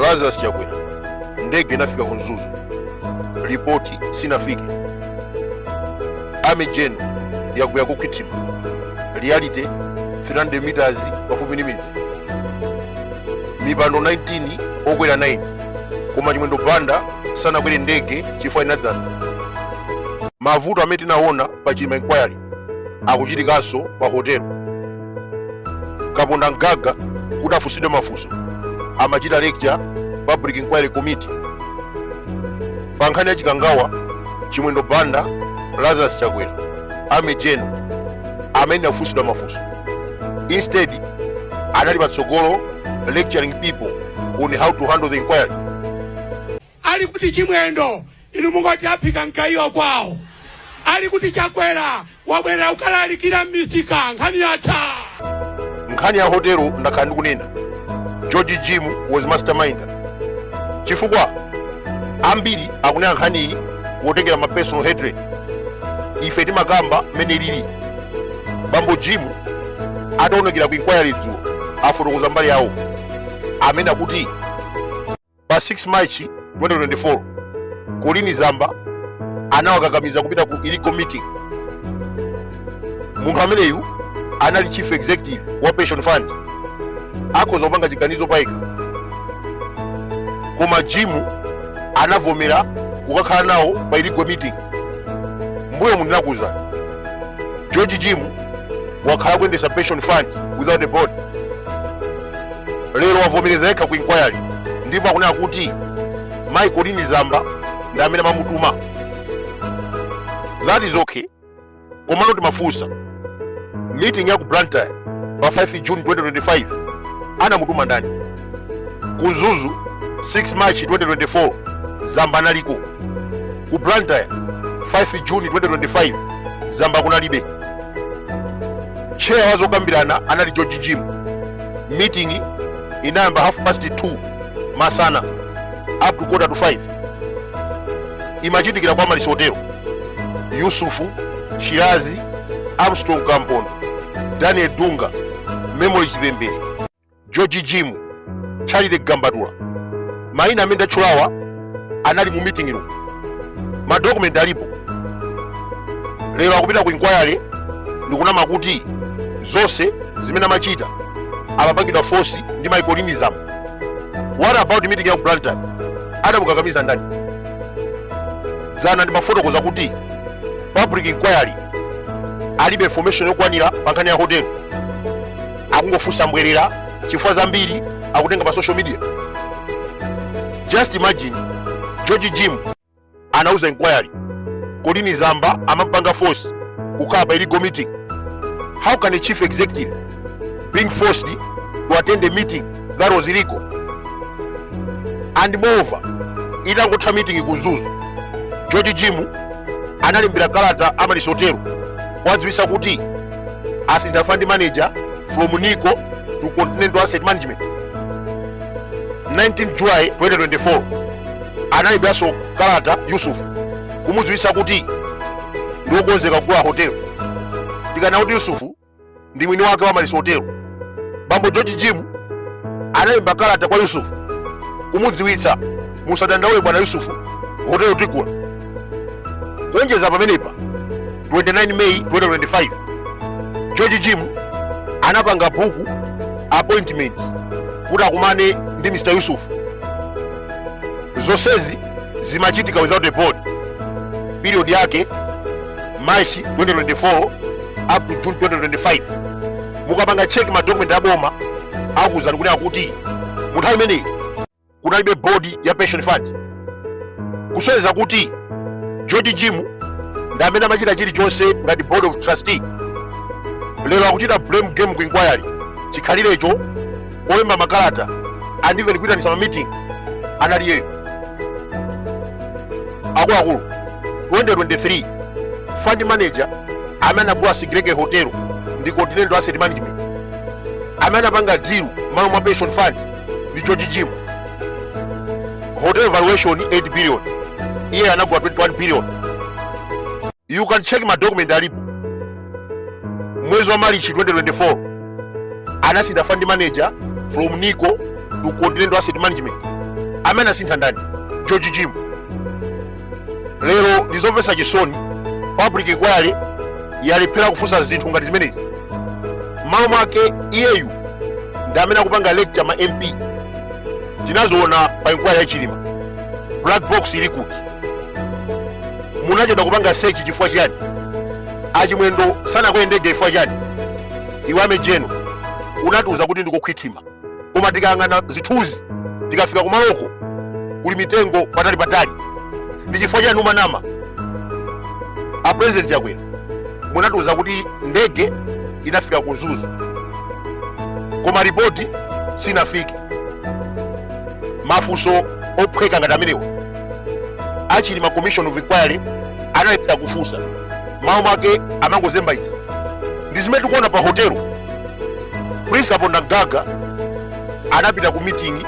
lazarus chakwera ndege inafika ku mzuzu ripoti sinafike army gen yagwera ku Nthungwa reality 300 meters pafupi ndi midzi mipando 19 okwera 9 koma chimwendo banda sanakwere ndege chifukwa inadzadza mavuto amene tinaona pa chilima inquiry akuchitikanso pa hotelo kaponda mgaga kuti afunsidwe mafunso amachita lecture public inquiry committee pa nkhani ya chikangawa chimwendo banda lazarus chakwera army gen amene afunsidwa mafunso instead anali patsogolo lecturing people on how to handle the inquiry Ali kuti chimwendo ili mkati aphika mgayiwa kwawo ali kuti chakwera wabwerera kukalalikira m'misika nkhani yatha nkhani ya hotelo ndakhala ndikunena george jim was mastermind chifukwa ambiri akunena nkhaniyi wotengera ma personal hatred ife timakamba mmene zilili bambo jim ataonekera ku inquiry dzulo afotokoza mbali yawo amene akuti pa 6 March 2024 Kolini Zamba anawakakamiza kupita ku illegal meeting. Munthu ameneyu anali chief executive wa pension fund, akhoza kupanga chiganizo payekha, koma Jim anavomera kukakhala nawo pa illegal meeting. Mbuyomu ndinakuuzani George Jim wakhala akuyendetsa pension fund without a board lero wavomereza yekha ku inquiry ndipo akunena kuti mayi kolini zamba ndi amene amamutuma that is okay komano timafunsa meeting ya ku blantyre pa 5 june 2025 anamutuma ndani ku mzuzu 6 march 2024 zamba analiko ku blantyre 5 june 2025 zamba kunalibe tcheya wa zokambirana anali george jim meeting inayamba half past 2 masana up to quarter to 5 imachitikira kwa malisi hotelo yusufu shirazi armstrong kampondo daniel dunga memory chipembere george jimu charlie gambatula maina amene ndatchulawa anali mu meeting room madokumenti alipo lero akupita ku inquiry ndikunama kuti zonse zimene amachita amapangidwa force ndi mayi kolini zamba what about meeting ya ku blantyre adamukakamiza ndani dzana ndimafotokoza kuti public inquiry alibe information yokwanira pa nkhani ya hotel akungofunsa mbwerera chifukwa zambiri akutenga pa social media just imagine george jim anauza inquiry colleen zamba amampanga force kukhala pa illegal meeting how can a chief executive being forced to attend a meeting that was illegal and moreover itangotha meeting ku mzuzu george jim analembera kalata amaryllis hotel kuwadziwisa kuti asintha fund manager from nico to continental asset management 19 july 2024 analemberaso kalata yusuf kumudziwisa kuti ndiokonzeka kugula hotelo tikana kuti yusufu ndi mwini wake wa amaryllis hotelo bambo george jim analemba kalata kwa yusufu kumudziwitsa musadandaule bwana yusufu hotelo tigula kuonjeza pamenepa 29 may 2025 george jim anapanga book appointment kuti akumane ndi mr yusufu zonsezi zimachitika without a board period yake march 2024 up to june 2025 mukapanga cheki madokumenti a boma akuwuzani kunena kuti mu nthawi imeneyi kunalibe bodi ya pension fund kusonyeza kuti George Jim ndi amene amachita chilichonse ngati board of trustee lero akuchita blame game ku inquiry chikhalirecho olemba makalata and even kuitanisa mamiting anali iyeyo akuluakulu 2023 fund manager amene anagula sigelege hotel ndi continental asset management amene anapanga deal malo mwa pension fund ndi george jim hotel valuation 8 billion iye anagula 21 billion you can check ma document alipo mwezi wa marichi 2024 anasintha fund manager from nico to continental asset management amene asintha ndani george jim lero ndizomvetsa chisoni public inquiry yalephera kufunsa zinthu ngati zimenezi mmalo mwake iyeyu ndi amene akupanga lecture ma mp tinaziona pa inquiry ya chilima black box ili kuti munachedwa kupanga search chifukwa chiyani achimwendo sanakwere ndege chifukwa chiyani iwe army general unatiuza kuti ndikokhwithima koma tikayang'ana zithunzi tikafika kumaloko kuli mitengo patali patali ndi chifukwa chiyani umanama a president chakwera munatiuza kuti ndege inafika ku mzuzu koma ripoti sinafike mafunso ophweka ngati amenewa achilima commission of inquiry anayipitsa kufunsa mawu mwake amangozembaitsa ndi zimene tikuona pa hotelo prince kaponda mgaga anapita ku meeting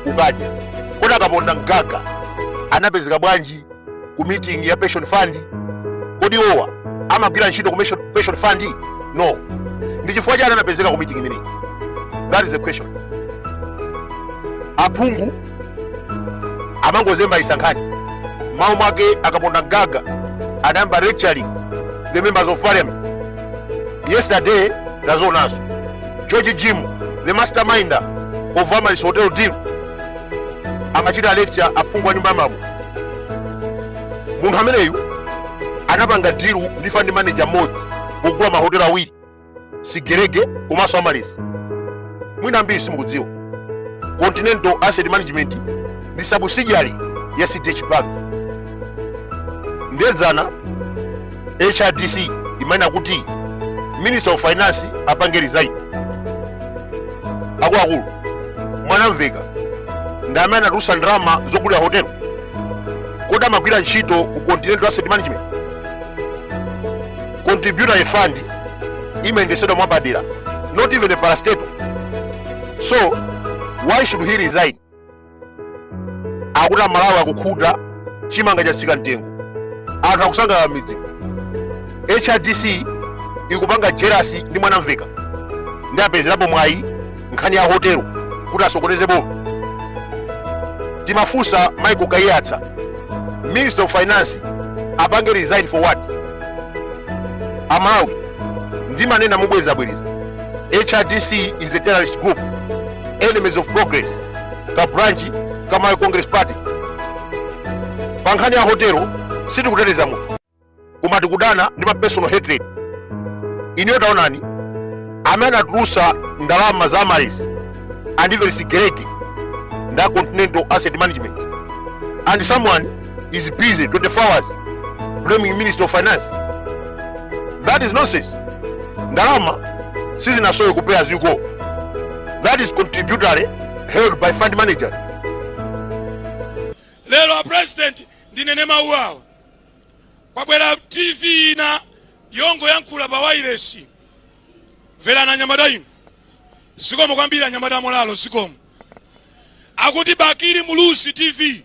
kukadya kodi akaponda mgaga anapezeka bwanji ku meeting ya pension fund kodi owa amagwira ntchito ku pension fund no ndi chifukwa chani anapezeka ku meeting imeneyi that is the question aphungu amangozembaitsa nkhani mawu mwake akaponda mgaga anayamba lecturing the members of parliament yesterday tazaonanso george jim the masterminder of amaris hotel deal amachita lecture aphungu a nyumba ya malamulo munthu ameneyu anapanga deal ndi fund manager mmodzi kugula mahotelo awiri sigerege komanso amaris mwina ambiri simukudziwa continental asset management ndi subsidiary ya cdh bank ndedzana hrdc imanena kuti minister of finance apange resign akuluakulu a mwanamveka ndi amene anatulutsa ndalama zogulira hotelo kodi amagwira ntchito ku continental asset management contributory fund imayendesedwa mwapadera not even a parastatal so why should he resign akuti amalawi akukhuta chimanga chatsika mtengo anthu akusangalala m'midzi hrdc ikupanga jealous ndi mwanamveka ndi apezerapo mwayi nkhani ya hotelo kuti asokoneze boma timafunsa michael kaiyatsa minister of finance apange resign for what amalawi ndimanena mobwerezabwereza hrdc is a terrorist group enemies of progress ka branch ka malawi congress party pa nkhani ya hotelo sitikuteteza munthu koma tikudana ndi ma personal hatred ineyo taonani amene anatulusa ndalama za amaris and even sigerege nda continental asset management and someone is busy 24 hours blaming minister of finance that is nonsense ndalama sizinasowe ku pay as you go that is contributory held by fund managers lero a president ndinene mawu awa kwabwera tv ina yongoyankhula pa wailesi mverani anyamata inu zikomo kwambiri anyamata a molalo zikomo akuti bakili muluzi tv